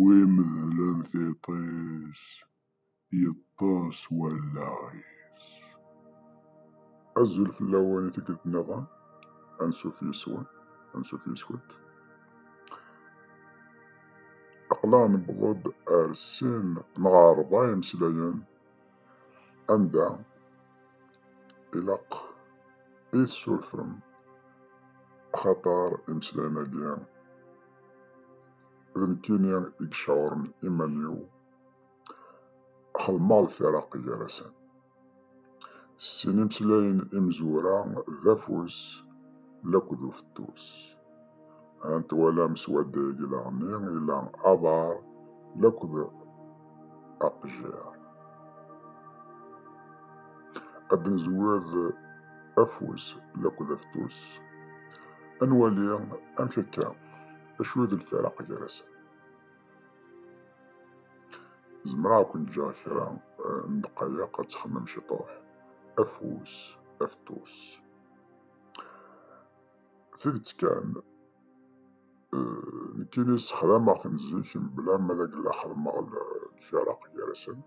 Wi medlen tiṭ-is, yeṭṭes wallaɣ-is. Azul fell-awen i tikkelt niḍen, ansuf yes-wen, ansuf yes-went. Aqlaɣ newweḍ-d ar sin neɣ rebɛa imeslayen anda ilaq i tessurfem axaṭer imeslayen-agi d nekkini i yecɛuren iman-iw xedmeɣ lfiraq gar-asen s sin imeslayen imezwura d afus laked ufettus ant walam s wadda-agi leɣni ila aḍar laked aqejjiṛ. Ad d-nezwir afus akked afetus, ad nwali amek akka, acu i d lfiraq gar-asen. Zemreɣ ad ken-ǧǧeɣ kra n ddqayeq ad txemmem ciṭuḥ, afus, afetus. Tidet kan, euh, nekkini ssexdameɣ-ten zik mebla ma d agella xedmeɣ lfaraq gar-asen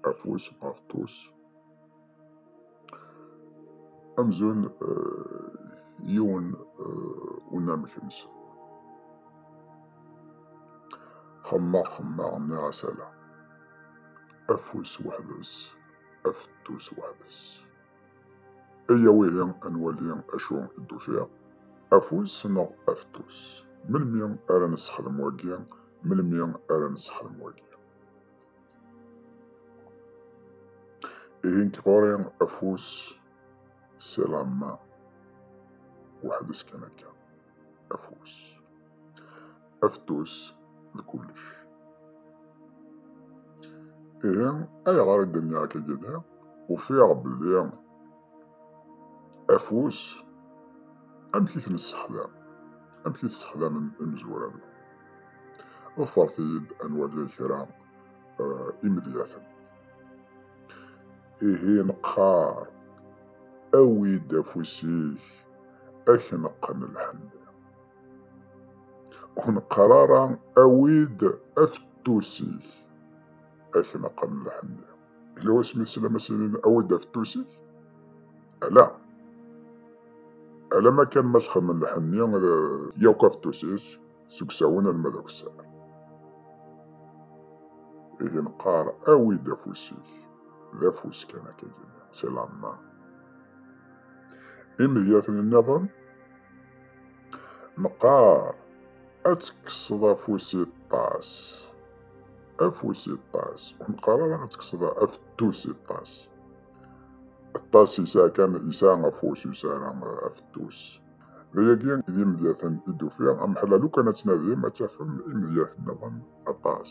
afus ɣef tus amzun euh, yiwen euh, unamek-nsen xemmeɣ xemmeɣ nniɣ asala afus weḥd-s afettus weḥd-s Iyya wihi ad nwali acu i d-ufiɣ. Afus neɣ afetus? Melmi ara nessexdem wagi? Melmi ara nessexdem wagi? Ihi nekk ɣur-i afus c'est la main. Weḥd-s kan akka. afus aftus d kullec ihi ayɣer i d-nniɣ akka ufiɣ belli afus amek i t-nessexdam amek i t-sexdamen imezwura-nneɣ ḍfeṛt-iyi-d ad nwali kra eh, imedyaten ihi neqqar awi-d afus-ik ad k-neqqen lḥenni. Ur neqqar ara awi-d afettus-ik ad k-neqqen lḥenni. Yella wasmi i teslam as-inin awi-d afettus-ik? Ala. Alama kan ma sxedmen lḥenni yakk afettus-is seg usawen alma d akessar. Ihi neqqar awi-d afus-ik. D afus kan akka gini, c'est la main. Imedyaten-nniḍen, neqqar ad tekkseḍ afus i ṭṭas. Afus i ṭṭas. Ur neqqar ara ad tekkseḍ afettus i ṭṭas. Ṭṭas yesɛa kan yesɛa afus, yesɛa afettus. D ayagi d imedyaten i d-ufiɣ. Ameḥlal ukan ad tnadim ad tafem imedyaten-nniḍen aṭas.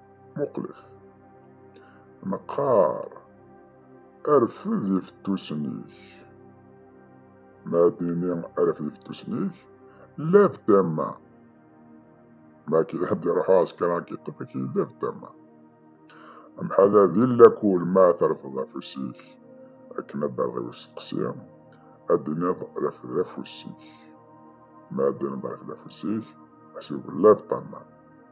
Muqlet. Neqqar, Rfed ifettusen-ik. Ma ad d-nini rfed ifettusen-ik, lab tama. Ma ad d-iruḥu ɛesker ad k-iṭṭef-ik, lab tama. Amḥala di lakul ma trefdeḍ afus-ik, akken ad d-terreḍ i usteqsi, ad d-tiniḍ rfed afus-ik. Ma ad d-tiniḍ rfed afus-ik, meḥsub lab tama.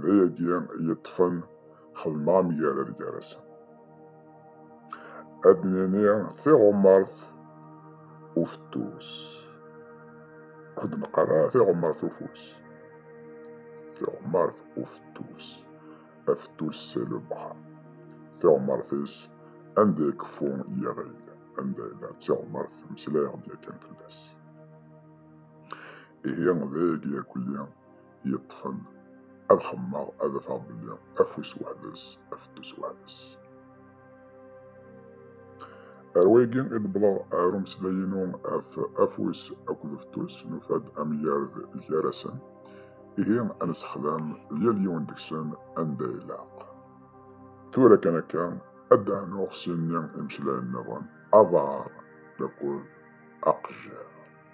d ayagi yeṭṭfen xedmeɣ amgarad gar-asen. Ad nini tiɣumart ufettus. Ur d-neqqar ara tiɣumart ufus. Tiɣumart ufettus. Afettus c'est le bras. Tiɣumart-is anda ikeffu yiɣil. Anda yella d tiɣumart mmeslayeɣ-d yakan fell-as. Ihi d ayagi akuli yeṭṭfen ad xemmeɣ ad afeɣ belli afus weḥd-s afettus weḥd-s ar wayagi i d-wwḍeɣ ar umeslay-inu af afus akked ufettus nufa-d amgarad gar-asen ihi ad nessexdam yal yiwen deg-sen anda ilaq tura kan akka ad d-ɛnuɣ s inni imeslayen-nniḍen aḍar akked aqejjar